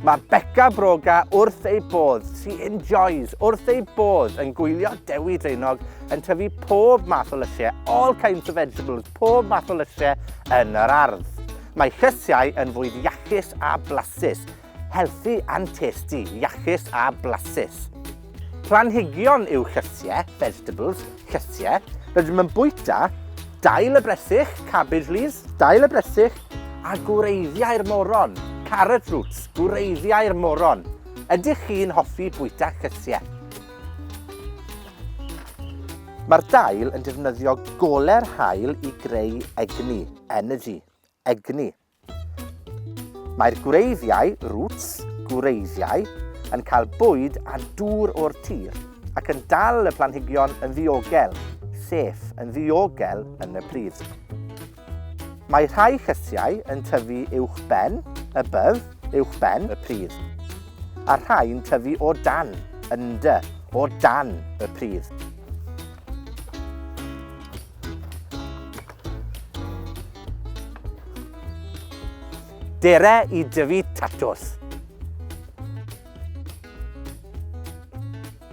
Mae Becca Broga wrth ei bodd, she enjoys, wrth ei bodd yn gwylio Dewi Draenog yn tyfu pob math o lysiau, all kinds of vegetables, pob math o lysiau yn yr ardd. Mae llysiau yn fwyd iachus a blasus Healthy and tasty, iachus a blasus. Planhigion yw llysie, vegetables, llysie. Rydym yn bwyta dail y bresych, cabbage leaves, dail y bresych, a gwreiddiau'r moron, carrot roots, gwreiddiau'r moron. Ydych chi'n hoffi bwyta llysiau? Mae'r dail yn defnyddio goler haul i greu egni, energy, egni. Mae'r gwreiddiau, roots, gwreiddiau, yn cael bwyd a dŵr o'r tir ac yn dal y planhigion yn ddiogel, sef yn ddiogel yn y pridd. Mae rhai llysiau yn tyfu uwch ben, above, uwch ben y pridd, a rhai'n tyfu o dan, under, o dan y pridd. Dere i dyfu tatws.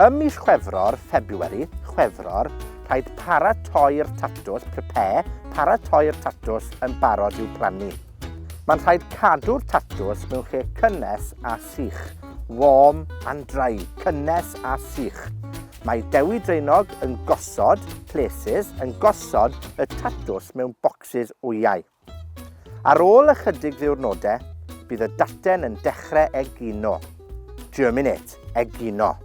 Ym mis Chwefror, February, Chwefror, rhaid paratoi'r tatws, prepare, paratoi'r tatws yn barod i'w plannu. Mae'n rhaid cadw'r tatws mewn lle cynnes a sych, warm and dry, cynnes a sych. Mae Dewi Draenog yn gosod, places, yn gosod y tatws mewn bocsys wyau. Ar ôl ychydig ddiwrnodau, bydd y daten yn dechrau egino. Germinate, egino.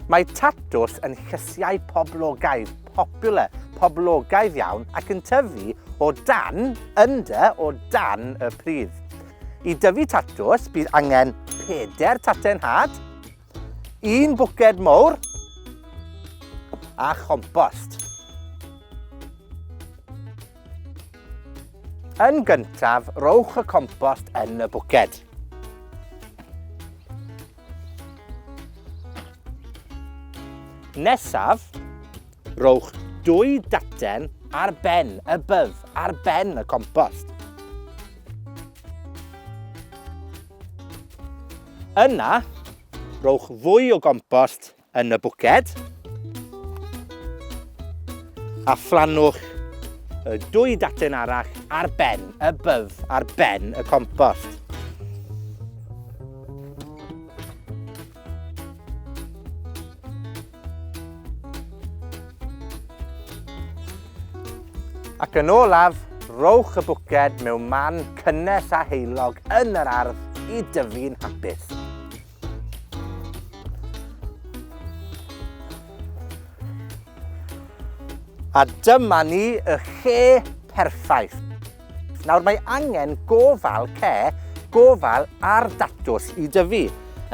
Mae tatws yn llysiau poblogaidd, popular, poblogaidd iawn, ac yn tyfu o dan, under, o dan y pridd. I dyfu tatws, bydd angen peder taten had, un bwced mowr a chompost. Yn gyntaf, rowch y compost yn y bwced. Nesaf, rowch dwy daten ar ben y byf, ar ben y compost. Yna, rowch fwy o gompost yn y bwced. A phlannwch y dwy daten arall ar ben y byf, ar ben y compost. Ac yn olaf, rowch y bwced mewn man cynnes a heilog yn yr ardd i dyfu'n hapus. A dyma ni, y lle perffaith. Nawr mae angen gofal ce, gofal ar datws i dyfu,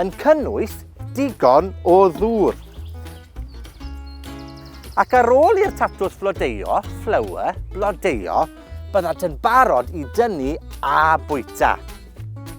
yn cynnwys digon o ddŵr. Ac ar ôl i'r tatws flodeuo, flower, blodeuo, byddant yn barod i dynnu a bwyta.